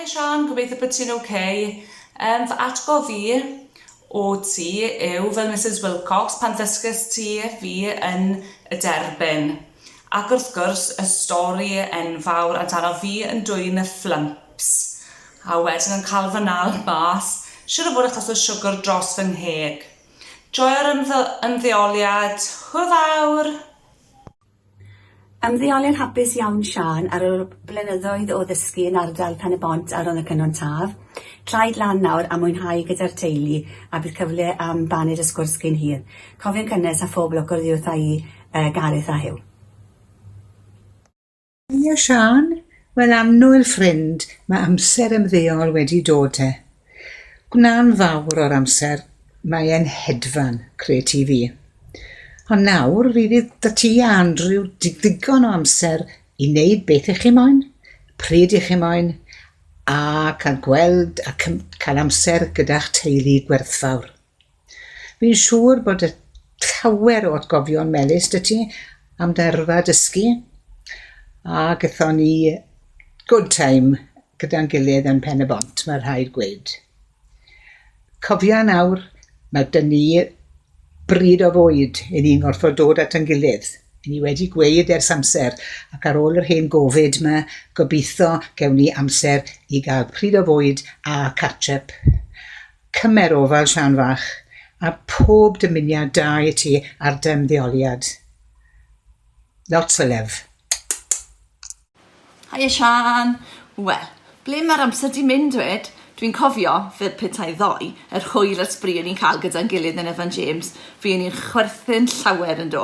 Haia Siân, gobeithio bod ti'n ok. Yym, fy atgof i o ti yw fel Misus Wilcox pan ddysges ti fi yn y derbyn. Ac wrth gwrs y stori enfawr amdano fi yn dwyn y fflymps a wedyn yn cael fy nal mas, siŵr o fod achos y siwgr dros fy ngheg. Joio'r ymddeoliad, hwyl fawr! Ymddeoliad hapus iawn Siân ar ol blynyddoedd o ddysgu yn ardal Pen-y-bont ar ol y Cynon Taf. Traed lan nawr a mwynhau gyda'r teulu a bydd cyfle am baned a sgwrs cyn hir. Cofion cynnes a phob lwc oddiwrtha i yy Gareth a Huw. Ie Siân? Wel annwyl ffrind, mae amser ymddeol wedi dod te. Gwna'n fawr o'r amser, mae e'n hedfan, cred ti fi. Ond nawr, fi fydd 'da ti a Andrew ddigon o amser i wneud beth i chi moyn, pryd i chi moyn, a cael gweld a cael amser gyda'ch teulu gwerthfawr. Fi'n siŵr bod y llawer o atgofion melys dy ti am dyrfa dysgu a gython ni good time gyda'n gilydd yn Pen y Bont, mae rhaid gweud. Cofia nawr, mae dyn ni bryd o fwyd i ni'n gorfod dod at yn gilydd. I ni wedi gweud ers amser, ac ar ôl yr hen gofid yma, gobeithio gewn ni amser i gael pryd o fwyd a catch-up. Cymer ofal Llan Fach a phob dymuniad da i ti ar dy ymddeoliad. Lots o lyf. Haia Siân! Wel, ble mae'r amser 'di mynd 'wed? Dwi'n cofio, fel petai ddoe, yr hwyl a'r sbri o'n i'n cael gyda'n gilydd yn Evan James, fuon ni'n chwerthin llawer yn do,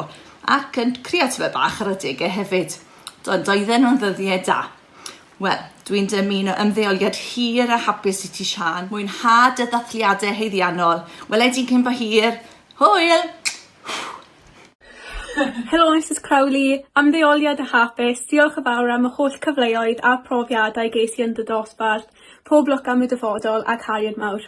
ac yn creatfau bach ar adegau hefyd. Do, doedden nhw'n ddyddiau da. Wel, dw i'n dymuno ymddeoliad hir a hapus i ti Siân. Mwynha dy ddathliadau haeddiannol. Wela i ti cyn bo hir. Hwyl! Helo Misus Crowley, ymddeoliad a hapus, diolch yn fawr am y holl cyfleoedd a profiadau ges i yn dy dosbarth, pob lwc am y dyfodol ac Harian mawr.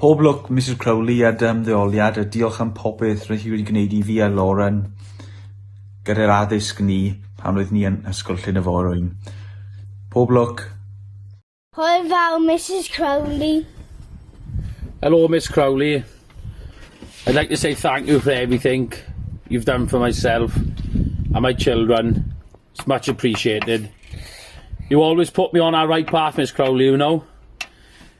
Pob lwc Misus Crowley a dy ymddeoliad a diolch am popeth rydych chi wedi gwneud i fi a Lauren gyda'r addysg ni pan oedd ni yn Ysgol Llyn y Forwyn. Pob lwc! Hwyl fawr Misus Crowley. Hello Miss Crowley. I'd like to say thank you for everything you've done for myself and my children. It's much appreciated. You always put me on our right path Miss Crowley, you know.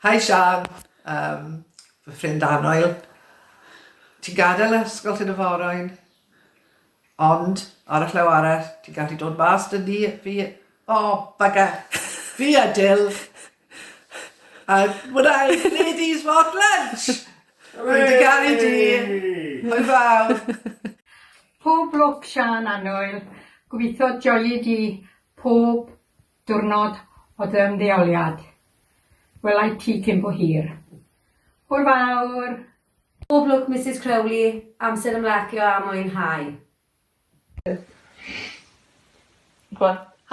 Hi Siân, yym, fy ffrind annoel. Ti'n gadael yr ysgol hyn y forwyn, ond ar y llaw arall, ti'n gallu dod mas 'da ni, fi, o, bugger, fi a Jill, and when I ladies want lunch! Rwy'n dy garu di, hwyl fawr! Pob lwc Siân annoel, gobeithio joio di pob Diwrnod o dy ymddeoliad. Welai ti cyn bo hir. Hwyl fawr! Pob lwc Misus Crowley, amser ymlacio a mwynhau.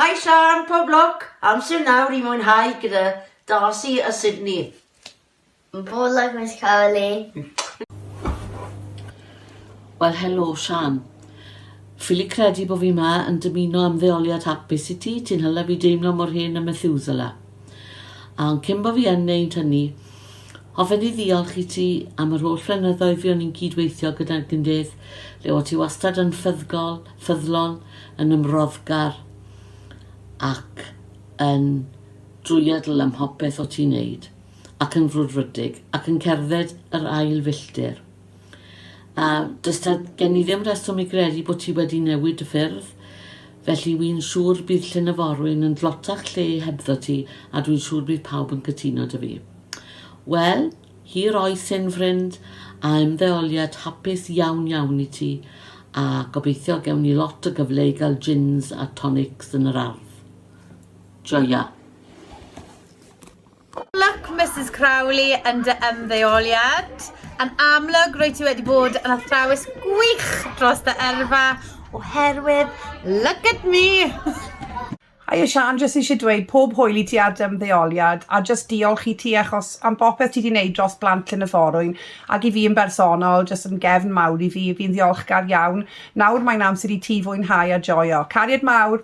Hi Siân, pob lwc, amser nawr i mwynhau gyda Darcy a Sydney. Bore da Miss Carolyn. Wel helo Shan. Ffili credu bo fi 'ma yn dymuno ymddeoliad hapus i ti, ti'n hala fi deimlo mor hen a Methuselah. A ond cyn bo fi yn neud hynny, hoffen i ddiolch i ti am yr holl flynyddoedd fi o'n i'n cyd-weithio gyda Gyndedd, lle o ti wastad yn ffyddgol, ffyddlon, yn ymroddgar ac yn drwyadl ym mhopeth o ti'n neud. ac yn frwdfrydig ac yn cerdded yr ail filltir. A does ta gen i ddim reswm i gredu bod ti wedi newid dy ffyrdd, felly wy'n siŵr bydd llyn y forwyn yn dlotach lle hebddo ti a dwi'n siŵr bydd pawb yn cytuno dy fi. Wel, hir oes hyn ffrind, a ymddeoliad hapus iawn iawn i ti, a gobeithio gewn ni lot o gyfle i gael gins a tonics yn yr ardd. Joia! Luck Misus Crowley yn dy ymddeoliad. Yn amlwg, rwy ti wedi bod yn athrawes gwych dros dy yrfa, oherwydd look at me! Haia Siân, jyst eisiau dweud pob hwyl i ti ar dy ymddeoliad, a jyst diolch i ti achos am bopeth ti di neud dros blant Llyn y Forwyn, ac i fi yn bersonol, jyst yn gefn mawr i fi, fi'n ddiolchgar iawn. Nawr mae'n amser i ti fwynhau a joio. Cariad mawr!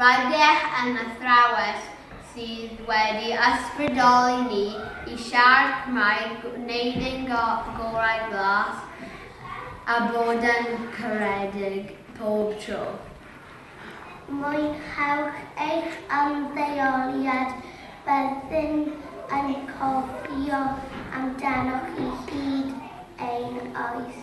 Rydych yn athrawes sydd wedi ysbrydoli ni i siarad Cymraeg, gwneud ein gorau glas a bod yn caredig pob tro. Mwynhewch eich ymddeoliad, byddwn yn cofio amdanoch chi hyd ein oes.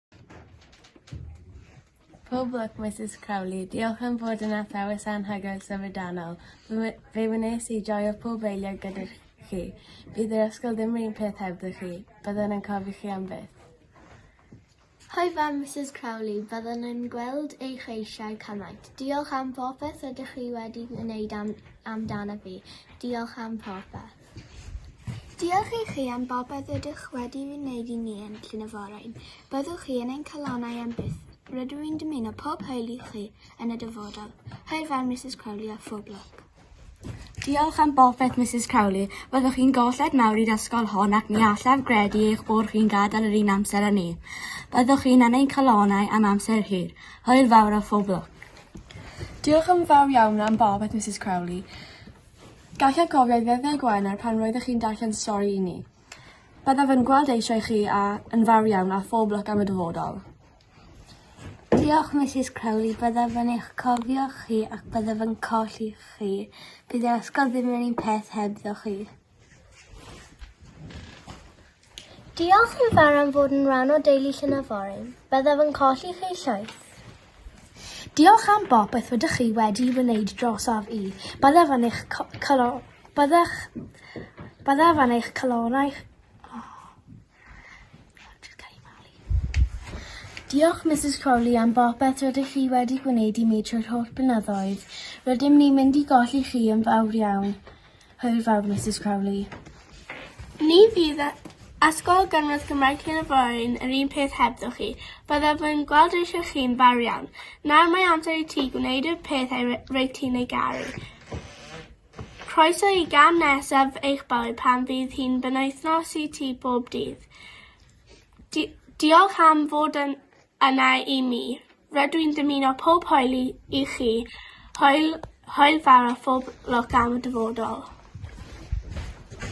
Pob lwc Misus Crowley, diolch am fod yn athrawes anhygoel syfrdanol. Fe wnes i joio pob eiliad gyda chi. Bydd yr ysgol ddim yr un peth hebddo chi. Byddwn yn cofio chi am byth. Hoi fam Misus Crowley, byddwn yn gweld eich eisiau cymaint. Diolch am popeth ydych chi wedi wneud am, amdana fi. Diolch am popeth. Diolch i chi am bopeth rydych wedi wneud i ni yn Llyn y Forwyn. Byddwch chi yn ein calonnau am byth. Rydw i'n dymuno pob hwyl i chi yn y dyfodol. Hwyl fawr Misus Crowley a phob lwc. Diolch am bopeth Misus Crowley. Byddwch chi'n golled mawr i'r ysgol hon ac ni allaf gredu eich bod chi'n gadael yr un amser â ni. Byddwch chi'n yn ein calonnau am amser hir. Hwyl fawr a phob lwc. Diolch yn fawr iawn am bopeth Misus Crowley. Gallech gofio ei ddyddiau Gwener pan roeddech chi'n darllen stori i ni. Byddaf yn gweld eisiau chi a, yn fawr iawn, a phob lwc am y dyfodol. Diolch, Misus Crowley. Byddaf yn eich cofio chi ac byddaf yn colli chi. Bydd yr ysgol ddim yr un peth hebddo chi. Diolch yn fawr am fod yn rhan o deulu Llyn-y-Forwyn. Byddaf yn colli chi llwyth. Diolch am bopeth rydych chi wedi wneud drosaf i. Byddaf yn eich colo... Byddech... Byddaf yn eich calonau... Diolch Misus Crowley am bopeth rydych chi wedi gwneud i mi trwy'r holl blynyddoedd. Rydym ni'n mynd i golli chi yn fawr iawn. Hwyl fawr, Misus Crowley. Ni fydd Ysgol Gynradd Cymraeg Llyn y Forain yr un peth hebddo chi. Byddaf yn gweld eisiau chi'n fawr iawn. Nawr mae amser i ti gwneud y peth ei reit ti'n ei garu. Croeso i gan nesaf eich bywyd pan fydd hi'n benwythnos i ti bob dydd. Di diolch am fod yn yna i mi. Rydw i'n dymuno pob hwyl i i chi, hwyl hwyl fawr a phob lwc am y dyfodol.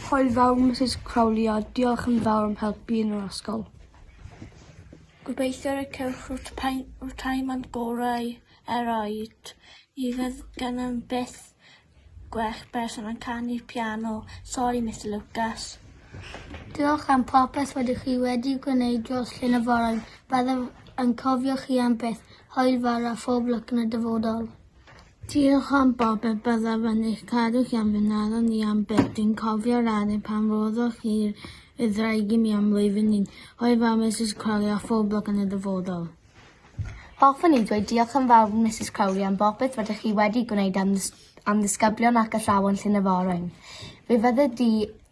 Hwyl fawr Misus Crowley a diolch yn fawr am helpu yn yr ysgol. Gobeithio y cewch yr rhyw time and gorau eraill. Mi fydd gennym byth Gwell person yn canu piano. Sori Mister Lucas. Diolch am popeth rydych chi wedi gwneud dros Llyn y Forwyn. Byddaf yn cofio chi am byth. Hwyl fawr a phob lwc yn y dyfodol. Diolch am bopeth, byddaf yn eich cadw chi am fy ngadael ni am byth. Dwi'n cofio'r adeg pan roddoch chi'r wyddraig i mi am flwyddyn un. Hwyl fawr Misus Crowley a phob lwc yn y dyfodol. Hoffwn i ddweud diolch yn fawr Misus Crowley am bopeth rydych chi wedi gwneud am ddys- am ddisgyblion ac athrawon Llyn y Forwyn. Fe fydde di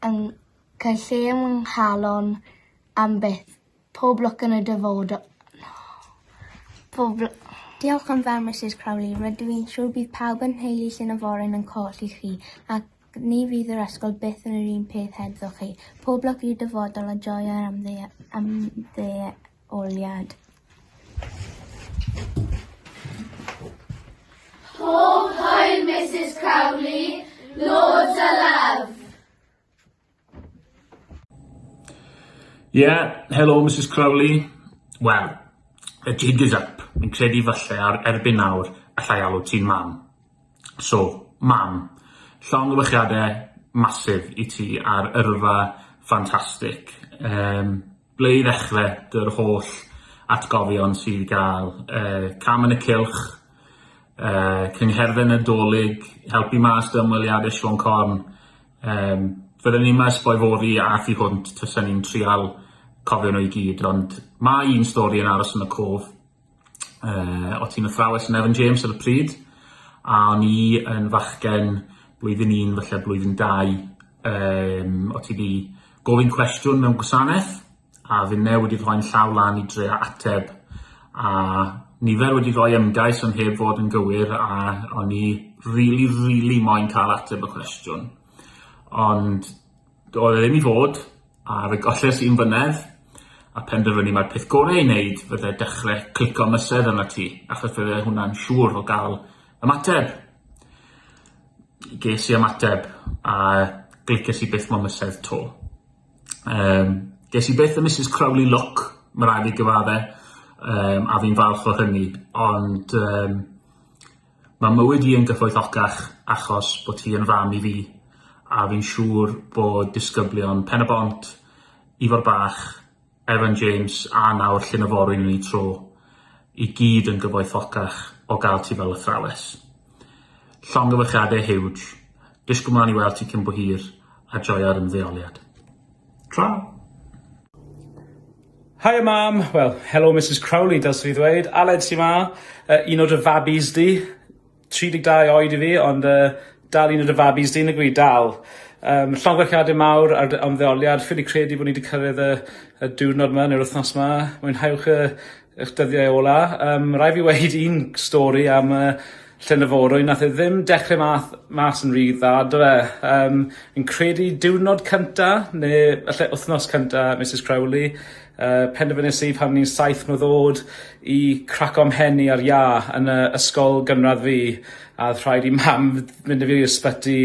yn cael lle yng nghalon am byth. Pob lwc yn y dyfod- Pob lw- Diolch yn fawr Misus Crowley, rydw i'n siŵr bydd pawb yn nheulu Llyn y Forwyn yn colli chi ac ni fydd yr ysgol byth yn yr un peth hebddo chi. Pob lwc i'r dyfodol a joio yr ymdde- ymdde- Lleoliad. Pob hwyl Misus Crowley, loads o love! Yeah, hello Misus Crowley. Wel, y jig is up. Fi'n credu falle ar erbyn nawr allai alw ti'n mam. So, mam, llong o masif i ti ar yrfa ffantastig. Um, Ble i ddechre, dy'r holl atgofion sydd i gael, yy cam yn y cylch, yy cyngherddau Nadolig, helpu mas dy ymweliade Siôn Corn, yym fydden ni yma esboi fory a thu hwnt tasen ni'n trial cofio nhw i gyd ond ma' un stori yn aros yn y cof. uh, o tîm athrawes yn Evan James ar y pryd, a o'n i yn fachgen blwyddyn un, felly blwyddyn dau, um, o ti di gofyn cwestiwn mewn gwasanaeth, a fi newid i rhoi'n llaw lan i drea ateb, a nifer wedi rhoi ymgais ond heb fod yn gywir a o'n i rili, really, really moyn cael ateb y cwestiwn. Ond Doedd e ddim i fod, a fe golles i'm fynedd, a phenderfynu mai'r peth gorau ei wneud fydde dechrau clico mysedd arnat ti, achos fydde hwnna'n siŵr o gael ymateb. Ges i ymateb, a glicies i byth mo mysedd 'to. Um, ges i byth y Mrs Crowley look, mae rhaid i gyfadde, um, a fi'n falch o hynny, ond um, Ma' mywyd i yn gyfoethocach achos bo' ti yn fam i fi a fi'n siŵr bod disgyblion Pen-y-bont, Ifor Bach, Evan James a nawr Llyn y Forwyn yn eu tro, i gyd yn gyfoethocach o ga'l ti fel athrawes. Llongyfarchiade hiwj. Disgwl mlan i weld ti cyn bo hir a joio'r ymddeoliad. Tra! Haia mam! Wel, helo Misus Crowley dylse fi ddweud. Aled sy 'ma. Yy un o dy fabis di. 32 oed i fi ond yy dal un o dy fabis di nag yw 'i? Dal. Yym llongyfarchiade mawr ar dy ymddeoliad. Ffili credu bo' ni 'di cyrredd y y diwrnod 'ma neu'r wthnos 'ma. Mwynhewch y Ych dyddiau ola. Yym rai' fi weud un stori am yy llyn y forwyn nath e ddim dechre math mas yn ry dda do fe? Yym fi'n credu diwrnod cynta ne' falle wthnos cynta Misus Crowley yy penderfynes i pan o'n i'n saith mlwydd o'd i craco 'mhen ar Iâ yn y ysgol gynradd fi a odd rhaid i mam fynd â fi i'r sbyty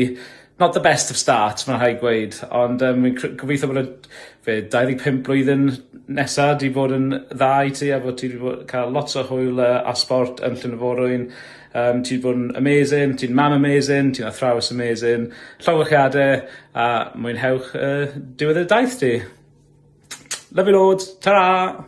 Not the best of start ma' rhaid gweud ond yym fi'n cre- gobeithio bod y be' dau ddeg pump blwyddyn nesa 'di bod yn dda i ti a bo' ti 'di bo' ca'l lot o hwyl yy a sbort yn Llyn y Forwyn yym ti 'di bod yn amazing ti'n mam amazing ti'n athrawes amazing llongyfarchiade a mwynhewch yy diwedd y daith ti. Love you loads. Tara!